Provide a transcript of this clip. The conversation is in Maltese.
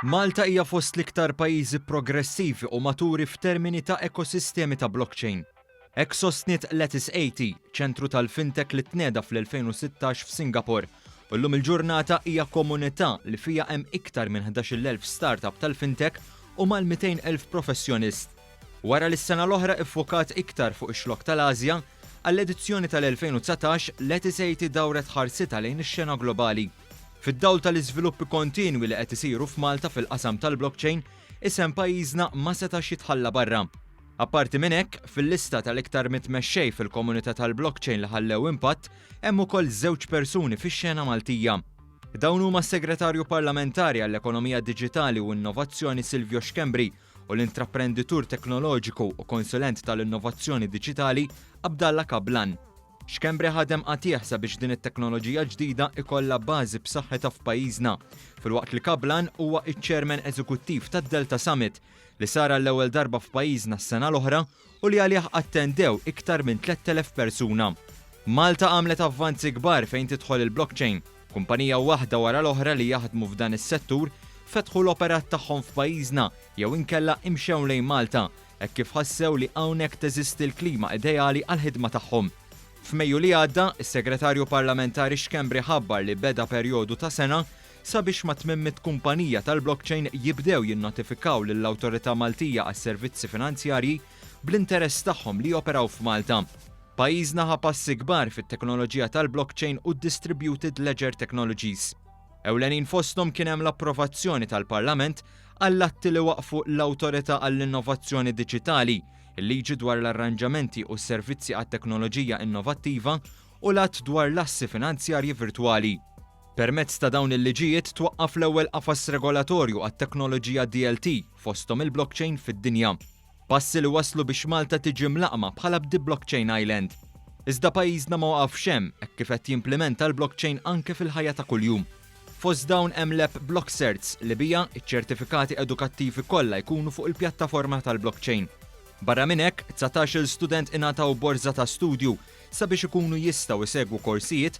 Malta hija fost l-iktar pajjiżi progressivi u maturi f'termini ta' ekosistemi ta' blockchain. Hekk sostniet Lattice 80, ċentru tal-fintech li tnieda fl-2016 f'Singapore, u llum il-ġurnata hija komunità li fiha hemm iktar minn 11,000 startup tal-fintech u mal-200,000 professjonist. Wara li s-sena l-oħra iffokat iktar fuq ix-xlokk tal-Ażja, għall-edizzjoni tal-2019 Letty Seiti dawret ħarsitha lejn ix-xena globali. Fid-dawl tal-iżviluppi kontinwi li qed isiru f'Malta fil-qasam tal-blockchain, isem pajjiżna ma setax jitħalla barra. Apparti minn hekk, fil-lista tal-iktar mitt mexxej fil-komunità tal-blockchain li ħallew impatt hemm ukoll żewġ persuni fix-xena Maltija. Dawn huma s-Segretarju Parlamentari għall-Ekonomija Diġitali u Innovazzjoni Silvio Schembri u l-intraprenditur teknoloġiku u konsulent tal-innovazzjoni diġitali Abdallah Kablan. Schembri ħadem qatigħ sabiex din it-teknoloġija ġdida ikollha bażi b'saħħitha f'pajjiżna, filwaqt li Kablan huwa ċ-Chairman Eżekuttiv tad-Delta Summit, li sar għall-ewwel darba f'pajjiżna s-sena l-oħra u li għalih attendew iktar minn 3,000 persuna. Malta għamlet avvanzi kbar fejn tidħol il-blockchain. Kumpanija waħda wara l-oħra li jaħdmu f'dan is-settur fetħu l-operat tagħhom f'pajjiżna jew inkella imxew lejn Malta hekk kif ħassew li hawnhekk teżisti l-klima ideali għall-ħidma tagħhom. F'Mejju li għadda, is-Segretarju Parlamentari Schembri ħabbar li beda perjodu ta' sena Sabiex ma' tmiem mitt kumpanija tal-blockchain jibdew jinnotifikaw lill-Awtorità Maltija għas-Servizzi Finanzjarji bl-interess tagħhom li joperaw f'Malta. Pajjiżna ħa passi kbar fit-teknoloġija tal-blockchain u d-distributed ledger technologies. Ewlenin fosthom kien hemm l-approvazzjoni tal-Parlament għall-atti li waqqfu l-Awtorità għall-Innovazzjoni Diġitali, il-Liġi dwar l-Arranġamenti u s-Servizzi għat-Teknoloġija Innovattiva u l-Att dwar l-Assi Finanzjarji Virtwali. Permezz ta' dawn il-liġijiet twaqqaf l-ewwel qafas regolatorju għat-teknoloġija DLT, fosthom il-blockchain, fid-dinja. Passi li wasslu biex Malta tiġi mlaqqma bħala b'Deblockchain Island. Iżda pajjiżna ma waqafx hemm hekk kif qed jimplimenta l-blockchain anke fil-ħajja ta' kuljum. Fost dawn hemm l-app BlockCerts li biha ċ-ċertifikati edukattivi kollha jkunu fuq il-pjattaforma tal-blockchain. Barra minn hekk, dsatax-il student ingħataw borża ta' studju sabiex ikunu jistgħu jsegwu korsijiet